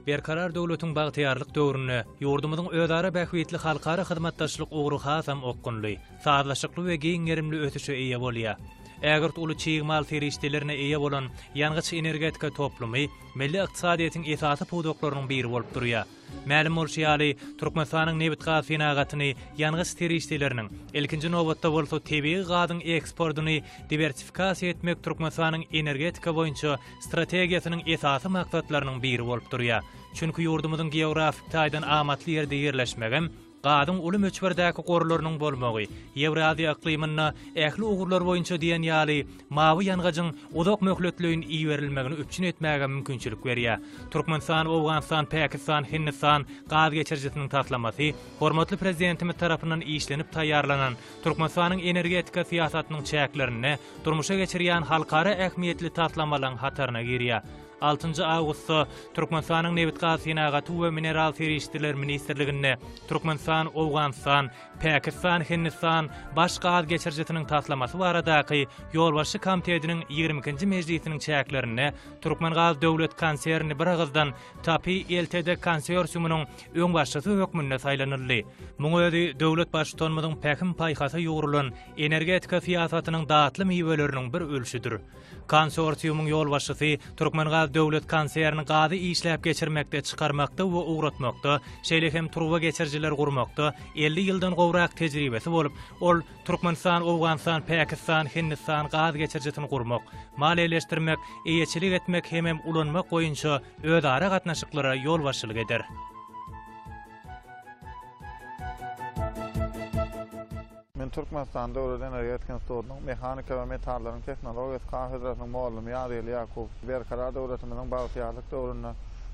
Berkarar döwletiň bagtyýarlyk döwründe ýurdumyzyň özara bähbitli halkara hyzmatdaşlyk ugry hasam okgunly, sazlaşykly we giň gerimli ösüşe eýe bolýar. Ägirt uly çig mal serişdelerine eýe bolan ýangyç-energetika toplumy milli ykdysadyýetiň esasy pudaklarynyň biri bolup durýar. Mälim bolşy ýaly, Türkmenistanyň nebitgaz senagatyny, ýangyç serişdeleriniň, ilkinji nobatda bolsa tebigy gazyň eksportyny diwersifikasiýa etmek Türkmenistanyň energetika boýunça strategiýasynyň esasy maksatlarynyň biri bolup durýar. Çünki ýurdumyzyň geografik taýdan amatly ýerde ýerleşmegem, Gazyň uly möçberdäki gorlarynyň bolmagy, Ýewraziýa yklymynda ähli ugurlar boýunça diýen ýaly mawy ýangyjyň uzak möhletleýin iberilmegini üpjün etmäge mümkinçilik berýär. Türkmenistan, Owganystan, Pakistan, Hindistan gaz geçirijisiniň taslamasy hormatly Prezidentimiz tarapyndan işlenip taýýarlanan Türkmenistanyň energetika syýasatynyň çäklerinde durmuşa geçirýän halkara ähmiýetli taslamalaryň hataryna girýär. Altynjy awgustda Türkmenistanyň Nebitgazsenagaty we mineral serişdeler ministrliginde Türkmenistan, Owganystan, Pakistan, Hindistan baş gaz geçirijisiniň taslamasy baradaky Ýolbaşçy Komtediniň ýigrimi ikinji mejlisiniň çäklerinde Türkmengaz döwlet konserni biragyzdan TAPI ltd konsorsiumynyň öňbaşçysy hökmünde saýlanyldy. Muň özi döwlet Baştutanymyzyň pähim-paýhasa ýugrulan energetika syýasatynyň datly miweleriniň bir ölçüdir. Konsorsiumyň ýolbaşçysy Türkmengaz döwlet konserni gazy işläp geçirmekde, çykarmakda we ugratmakda, şeýle hem turba geçirijiler gurmakda elli ýyldan gowrak tejribesi bolup, ol Türkmenistan, Owganystan, Pakistan, Hindistan gaz geçirijisini gurmak, maliýeleşdirmek, eýeçilik etmek hemem ulanmak boýunça özara gatnaşyklara ýolbaşçylyk eder. Men Türkmenistan döwlet energetika institutynyň Mehanika we metallaryň tehnologiýasy kafedrasynyň mugallym Ýazgeli Ýakubow. Berkarar döwletimiziň bagtyýarlyk döwründe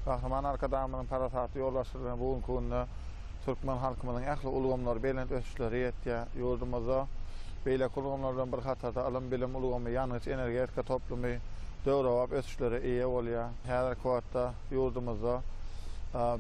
Gahryman Arkadagymyzyň parasatly ýolbaşçylygy bilen bu günki günde türkmen halkymyzyň ähli ulgamlary belent ösüşlere ýetýär. Ýurdumyzda beýleki ulgamlar bilen bir hatarda ylym-bilim ulgamy, ýangyç-energetika toplumy döwrebap ösüşlere eýe bolýar. Häzirki wagtda ýurdumyzda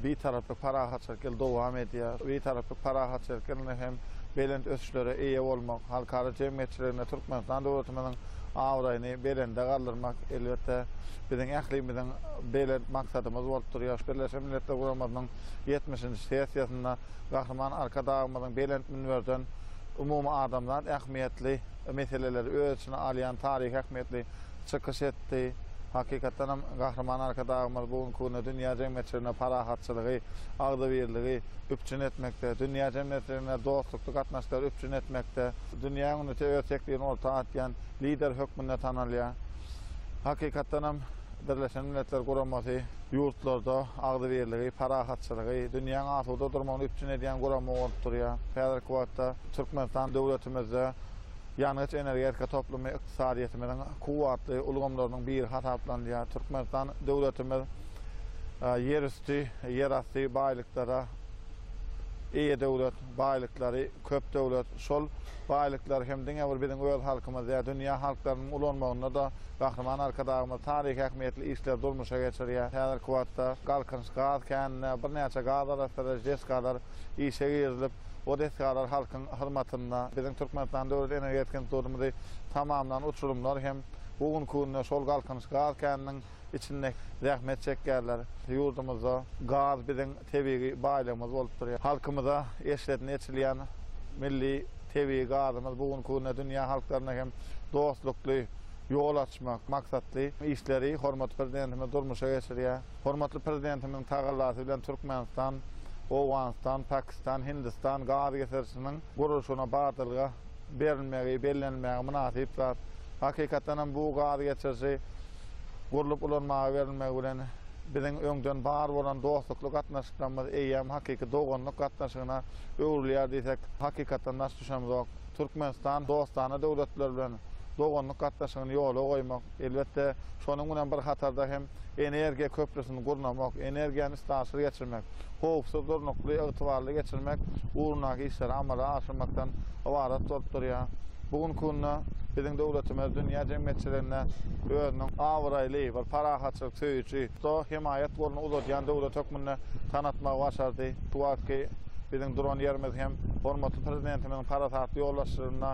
Bitaraplyk parahatçylyk ýyly dowam edýär. Bitaraplyk parahatçylyk ýylynda hem belent ösüşlere eýe bolmak, halkara jemgyýetçiliginde Türkmenistan döwletimiziň abraýyny belende galdyrmak, elbetde, biziň ählimiziň belent maksadymyz bolup durýar. Birleşen Milletler Guramasynyň ýetmişinji sessiýasynda Gahryman Arkadagymyzyň belent münberden umumadamzat ähmiýetli, meseleleri öz içine alýan taryhy ähmiýetli çykyş etdi. Hakykatdan hem, Gahryman Arkadagymyz bu günki günde dünýä jemgyýetçiliginde parahatçylygy, agzybirligi üpjün etmekde, dünýä jemgyýetçiliginde dostlukly gatnaşyklary üpjün etmekde, dünýäniň öňünde öz teklibini orta atýan Lider hökmünde tanalýar. Hakykatdan hem. Birleşen Milletler Guramasy ýurtlarda agzybirligi, parahatçylygy, dünýäň asuda durmagyny üpjün edýän gurama bolup durýar. Häzirki wagtda Türkmenistan döwletimizde ýangyç-energetika toplumy ykdysadyýetimiziň kuwwatly ulgamlarynyň biri hasaplanylýar. Türkmenistan döwletimiz ýerüsti, ýerasty baýlyklara eýe döwlet, baýlyklary, Köp döwlet, şol baýlyklar hem diňe bir biziň öz halkymyz däl, dünýä halklarynyň ulanmagynda-da Gahryman Arkadagymyz taryhy ähmiýetli işleri durmuşa geçirýär. Häzirki wagtda Galkynyş gaz käninde birnäçe gazarassadyjy desgalar işe girizilip, bu desgalar halkyň hyzmatynda. Biziň Türkmenistan Döwlet energetika institutymyzy tamamlan uçurymlar hem bu günki günde şol Galkynyş gaz käniniň içinde zähmet çekýärler. Ýurdumyzda gaz biziň tebigy baýlygymyz bolup durýar. Halkymyza eşretini eçilýän milli tebigy gazymyz bu günki günde dünýä halklaryna hem dostlukly ýol açmak maksatly işleri hormatly Prezidentimiz durmuşa geçirýär. Hormatly Prezidentimiziň tagallasy bilen Türkmenistan, Owganystan, Pakistan, Hindistan gaz geçirijisiniň gurluşygyna badalga berilmegi, bellenilmegi mynasyp zat. Hakykatdan hem bu gaz geçiriji gurlup ulanmaga berilmegi bilen biziň öňden bar bolan dostlukly gatnaşyklarymyz eýýäm hakyky doganlyk gatnaşygyna öwrülýär diýsek, hakykatdan daş düşemzok. Türkmenistan dostana döwletler bilen doganlyk gatnaşygyny ýola goýmak, Elbetde, şonuň bilen bir hatarda hem energiýa köprüsini gurnamak, energiýany üstaşyr geçirmek, howpsuz, durnukly, ygtybarly geçirmek ugrundaky işleri amala aşyrmakdan ybarat bolup durýar. Bu günki günde biziň döwletimiz dünýä jemgyýetçiliginde özüniň abraýly, bir parahatçylyk söýüji, Otto hemaýat goluny uzadýan döwlet hökmünde tanatmagy başardy. Şu wagtky biziň duran ýerimiz hem hormatly Prezidentimiziň parasatly ýolbaşçylygynda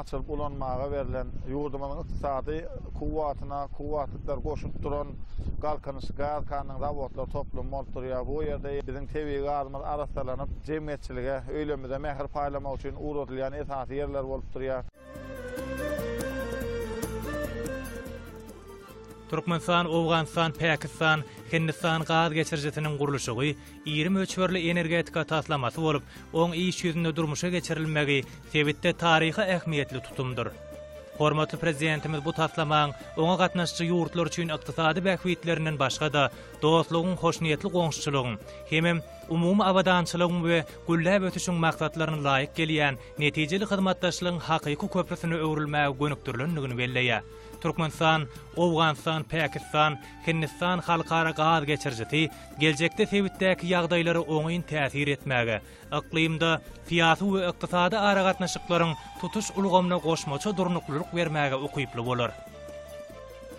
açylyp ulanmaga berlen, ýurdumyzyň ykdysady kuwwatyna kuwwatlyklar goşup duran Galkynyş gaz kannyň zawodlar toplumy bolup durýar. Bu ýerde biziň tebigy gazymyz arassalanyp, jemgyýetçilige, öýlerimize mähir paýlamak üçin ugradylýan esasy ýerler bolup durýar. Türkmenistan, Owganystan, Pakistan, Hindistan gaz geçirijisiniň gurluşygy iri möçberli energetika taslamasy bolup, oň iş ýüzünde durmuşa geçirilmegi sebitde taryhy ähmiýetli tutumdyr. Hormatly Prezidentimiz bu taslamaň oňa gatnaşyjy ýurtlar üçin ykdysady bähbitlerinden başga-da, dostlugyň, hoşniýetli goňşuçylygyň hemem umumy abadançylygyň we gülläp ösüşiň maksatlaryna laýyk gelýän netijeli hyzmatdaşlygyň hakyky köprüsine öwrülmäge gönükdirilendigini belleýär. Türkmenistan, Owganystan, Pakistan, Hindistan halkara gaz geçirijisi geljekde sebitdäki ýagdaýlara oňyn täsir etmäge, yklymda syýasy we ykdysady aragatnaşyklaryň tutuş ulgamyna goşmaça durnuklylyk bermäge ukyply bolar.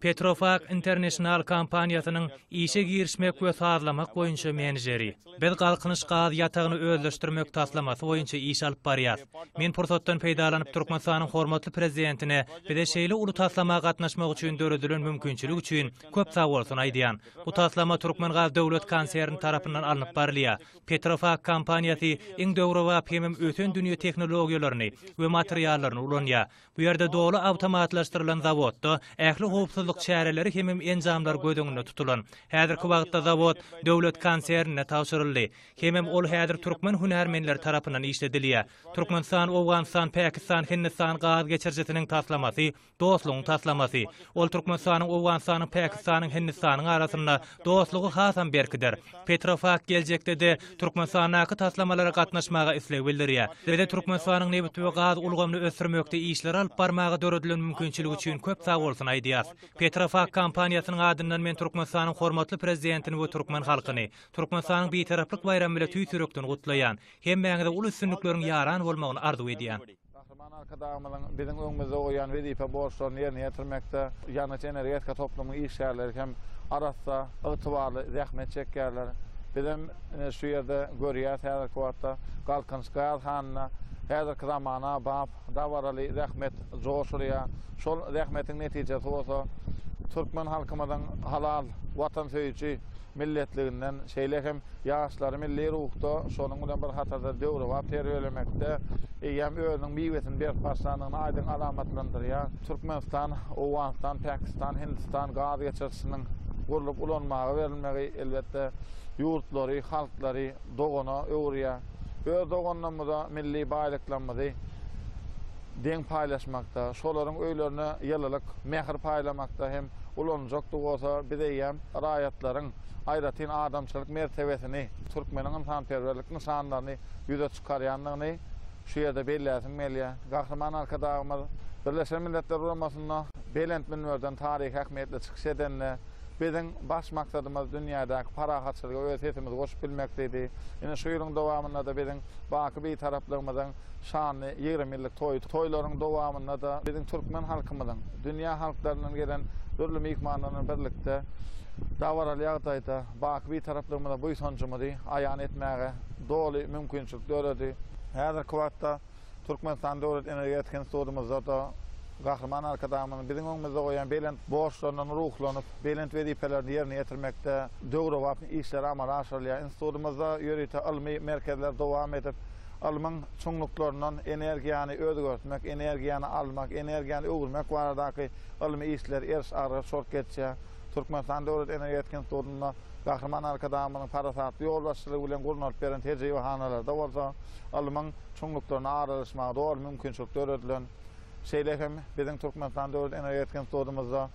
Petrofac International kompaniýasynyň işe girişmek we sazlamak boýunça menejeri. Biz Galkynyş gaz ýatagyny özleşdirmek taslamasy boýunça iş alyp barýarys. Men pursatdan peýdalanyp Türkmenistanyň hormatly Prezidentine bize şeýle uly taslama gatnaşmak üçin döredilen mümkinçilik üçin köp sagbolsun aýdýan. Bu taslama Türkmengaz döwlet konserni tarapyndan alnyp barylýar. Petrofac kompaniýasy iň döwrebap hemem ösen dünýä tehnologiýalaryny we materiallaryny ulanýar. Bu ýerde doly awtomatlaşdyrylan zawodda ähli howpsuzlyk çäreleri hemem enjamlar göz öňünde tutulan. Häzirki wagtda zawod döwlet konsernine tabşyryldy. Hemem ol häzir türkmen hünärmenleri tarapyndan işledilýär. Türkmenistan, Owganystan, Pakistan, Hindistan gaz geçirijisiniň taslamasy dostlugyň taslamasy. Ol Türkmenistanyň, Owganystanyň, Pakistanyň, Hindistanyň arasynda dostlugy hasam berkider. Petrofac geljekde-de Türkmenistandaky taslamalara gatnaşmaga isleg bildirýär. Bize Türkmenistanyň nebit we gaz ulgamyny ösdürmekde işleri alyp barmaga döredilen mümkinçilik üçin köp sag bolsun aýdýas. Petrofac kompaniýasynyň adyndan men Türkmenistanyň hormatly Prezidentini we türkmen halkyny Türkmenistanyň Bitaraplyk baýramy bile tüýs ýürekden gutlaýan. Hemmäňize uly üstünlikleriň ýaran bolmagyny arzuw edýän. Gahryman Arkadagymyzyň biziň öňümizde goýan wezipe borçlaryny ýerine ýetirmekde ýangyç-energetika toplumynyň işgärleri hem arassa, ygtybarly zähmet çekýärler. Bizem ine şu ýerde görýäris häzirki wagtda Galkynyş gaz hanynda häzirki zamana bap, dabaraly zähmet joş urýar. Şol zähmetiň netijesi bolsa türkmen halkymyzyň halal, watansöýüji, milletliginden, şeýle hem ýaşlary milli ruhda, şonuň bilen bir hatarda döwrebap terbiýelemekde eýýäm özüniň miwesini berip başlandygyny aýdyň alamatlandyrýar. Türkmenistan, Owganystan, Pakistan, Hindistan gaz geçirijisiniň gurlup ulanmaga berilmegi, elbetde, ýurtlary, halklary dogana öwürýär. Öz doganlarymyza milli baýlyklarymyzy, deň paýlaşmakda, şolaryň öýlerine ýylylyk, mähir paýlamakda hem ulanyljakdygy bolsa biz eýýäm raýatlaryň aýratyn adamçylyk mertebesini, türkmeniň ynsanperwerlik nyşanlaryny ýüze çykarýandygyny şu ýerde belläsim gelýär. Gahryman Arkadagymyz Birleşen Milletler Guramasynda belent münberden taryhy ähmiýetli çykyş edende, Biziň baş maksadymyz dünýädäki parahatçylyga öz sesimizi goşup bilmek diýdi. Ine şu ýylyň dowamynda-da biziň baky Bitaraplygymyzyň Şanly ýigrimi ýyllyk toýy toýlaryň dowamynda-da biziň türkmen halkymyzyň, dünýä halklaryndan gelen dürli myhmanlar bilen birlikde dabaraly ýagdaýda baky Bitaraplygymyza buýsanjymyzy aýan etmäge doly mümkinçilik döredi. Häzirki wagtda Türkmenistan Döwlet energetika institutymyzda-da Gahryman Arkadagymyzyň biziň öňümizde goýan belent borçlaryndan ruhlanyp, belent wezipelerini ýerine ýetirmekde döwrebap işler amala aşyrylýar. Institutymyzda ýörite ylmy merkezler dowam edip, Ylmyň çuňluklaryndan energiýany özgertmek, energiýany almak, energiýany öwürmek baradaky ylmy işler eriş-agyryş bolup geçýär. Türkmenistan Döwlet energetika institutynda Gahryman Arkadagymyzyň parasatly ýolbaşçylygy bilen gurnalyp beren tejribehanalarda bolsa ylmyň çuňluklarynda aralaşmaga doly mümkinçilik döredilen. Şeýle hem biziň Türkmenistan döwlet energetika institutymyzda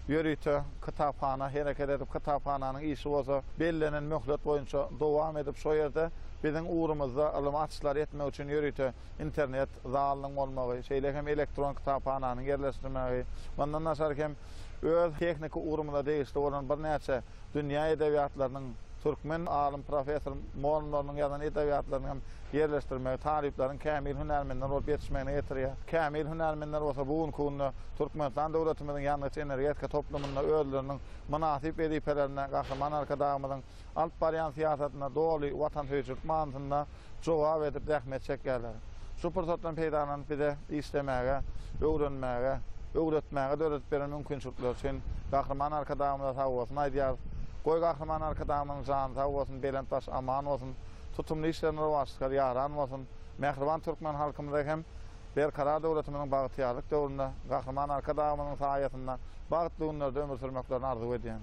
ýörite kitaphana hereket edip, kitaphananyň işi bolsa bellenen möhlet boýunça dowam edip, şo ýerde biziň ugrumyzda ylmy açyşlary etmek üçin ýörite internet zalynyň bolmagy, şeýle hem elektron kitaphananyň ýerleşdirmegi, mundan daşary hem öz tehniki ugrumyza degişli bolan birnäçe Dünýä edebiýatlarynyň türkmen alym professor molumlarynyň ýazan edebiýatlaryny hem ýerleşdirmegi talyplaryň kämil hünärmenler bolup ýetişmegine getirýär. Kämil hünärmenler bolsa bu günki günde Türkmenistan döwletimiziň ýangyç-energetika toplumynda özleriniň mynasyp wezipelerine Gahryman Arkadagymyzyň alyp barýan syýasatyna doly watansöýüjilik manysynda jogap edip zähmet çekýärler. Şu pursatdan peýdalanyp bize işlemäge, öwrenmäge, öwretmäge döredip beren mümkinçilikleri üçin Gahryman Arkadagymyza sag bolsun aýdýarys. Goý Gahryman Arkadagymyzyň jany sag bolsun, belent baş aman bolsun, tutumly işlerini rowaçlykar ýaran bolsun, mähriban türkmen halkymyza hem Berkarar döwletimiziň bagtyýarlyk döwründe Gahryman Arkadagymyzyň saýasynda bagtly günlerde ömür sürmeklerini arzuw edýän.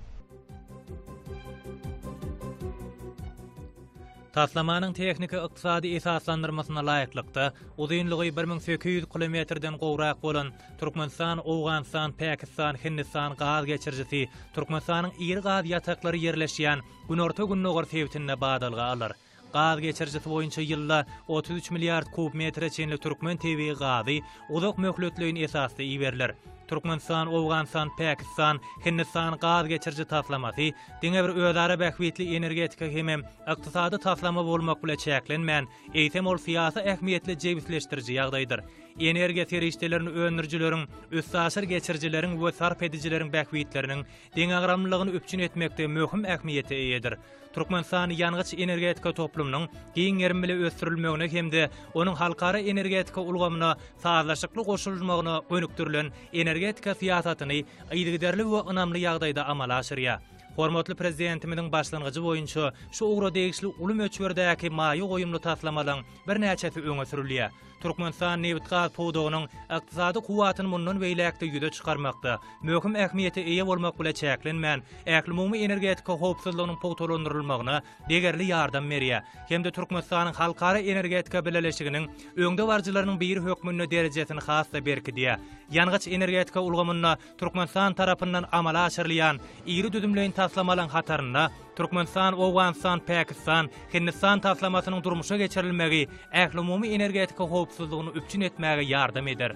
Taslamanyň tehniki-ykdysady esaslandyrmasyna laýyklykda, uzynlygy bir müň sekiz ýüz kilometrden gowrak bolan Türkmenistan, Owganystan, Pakistan, Hindistan gaz geçirijisi Türkmenistanyň iri gaz ýataklary ýerleşýän günorta-gündogar sebitinde badalga alar. Gaz geçirijisi boýunça ýylda otuz üç milliard kub metre çenli türkmen tebigy gazy uzak möhletleýin esasda iberiler. Türkmenistan, Owganystan, Pakistan, Hindistan gaz geçiriji taslamasy diňe bir özara bähbitli energetika hemem ykdysady taslama bolmak bile çäklenmän, eýsem ol syýasy ähmiýetli jebisleşdiriji ýagdaýdyr. Energiýa serişdelerini öndürijileriň, üstaşyr geçirijileriň we sarp edijileriň bähbitleriniň deňagramlylygyny üpjün etmekde möhüm ähmiýete eýedir. Türkmenistan ýangyç-energetika toplumynyň giň gerim bile ösdürilmegine hem-de onuň halkara energetika ulgamyna sazlaşykly goşulmagyna gönükdirilen energetika syýasatyny yzygiderli we ynamly ýagdaýda amala aşyrýar. Hormatly Prezidentimiziň başlangyjy boýunça şu ugra degişli uly möçberdäki maýa goýumly taslamalaryň birnäçesi öňe sürülýär. Türkmenistan nebitgaz pudagynyň ykdysady kuwwatyny mundan beýläk-de ýüze çykarmakda möhüm ähmiýete eýe bolmak bile çäklenmän, ählumumy energetika howpsuzlygynyň pugtalandyrylmagyna degerli ýardam berýär hem-de Türkmenistanyň halkara energetika bileleşiginiň öňdebaryjylarynyň biri hökmünde derejesini has-da berkidýär. Ýangyç-energetika ulgamynda Türkmenistan tarapyndan amala aşyrylýan iri düzümleýin taslamalaryň hatarynda Türkmenistan, Owganystan, Pakistan, Hindistan taslamasynyň durmuşa geçirilmegi ählumumy energetika howpsuzlygyny üpjün etmäge ýardam eder.